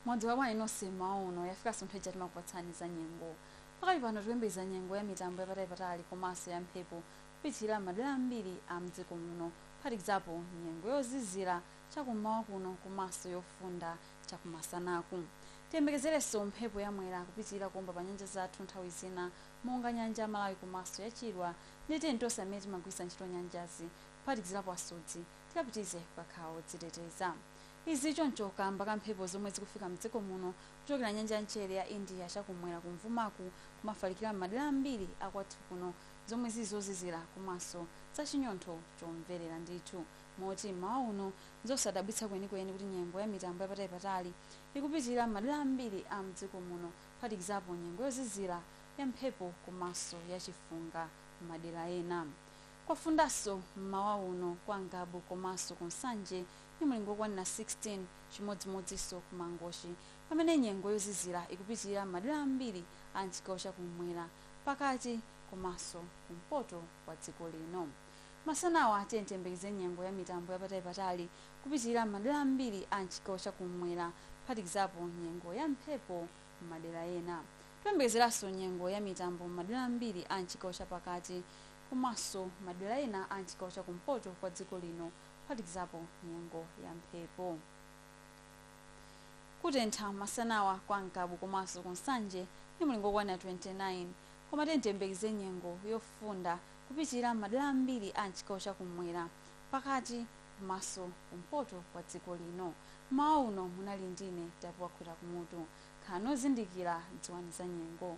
mwadzuka bwanji nonse mmawa uno yafika nso nthawi ija timakupatsani za nyengo pakali pano tikuyembekeza nyengo ya mitambo yapatali-patali komanso ya mphepo kupitilira madera ambiri a mdziko muno kuphatikizapo nyengo yozizira chakummawa kuno komanso yofunda chakumasanaku tiyembekezerenso mphepo ya mwera kupitilira kuomba pa nyanja zathu nthawi zina monga Nyanja ya Malawi komaso ya Chilwa ndiye tiyeni tonse amene timagwiritsa ntchito nyanjazi kuphatikizilapo asodzi tikapitilize kukakhala odziteteza. Izi choncho kaamba ka mphepo zomwe zikufika mdziko muno kuchokera nyanja ya mchere ya India chakumwera kumvumaku kumafalikira m'madera ambiri a kwathu kuno zomwe zili zozizira komaso za chinyontho chomverera ndithu moti m'mawa uno nzosadabwitsa kwenikweni kuti nyengo ya mitambo yapatalipatali ikupitilira m'madera ambiri a mdziko muno kuphatikizapo nyengo yozizira, yamphepo komanso yachifunga m'madera ena. Kwafundanso m'mawa uno kwa Ngabu komanso ku Nsanje ndi mlingo wokwanira 16, chimodzimodzinso ku Mangochi pamene nyengo yozizira ikupitirira m'madera ambiri a m'chigawo cha kummwera, pakati komanso kumpoto kwa dziko lino. Masanawa tiyeni tiyembekeze nyengo ya mitambo yapatalipatali kupitilira m'madera ambiri a m'chigawo cha kummwera kuphatikizapo nyengo ya mphepo m'madera ena. Tikuyembekezeranso nyengo ya mitambo m'madera ambiri a m'chigawo cha pakati komanso madera ena a m'chigawo cha kumpoto kwa dziko lino kuphatikizapo nyengo ya mphepo. Kutentha masanawa kwa Ngabu komanso ku Nsanje ndi mulingo wokwanira 29 koma tiyeni tiyembekeze nyengo yofunda kupitirira m'madera ambiri a m'chigawo cha kummwera, pakati komanso kumpoto kwa dziko lino. M'mawa uno munali ndine, Tapiwa Khwira Kumutu. Khalani ozindikira, dziwani za nyengo.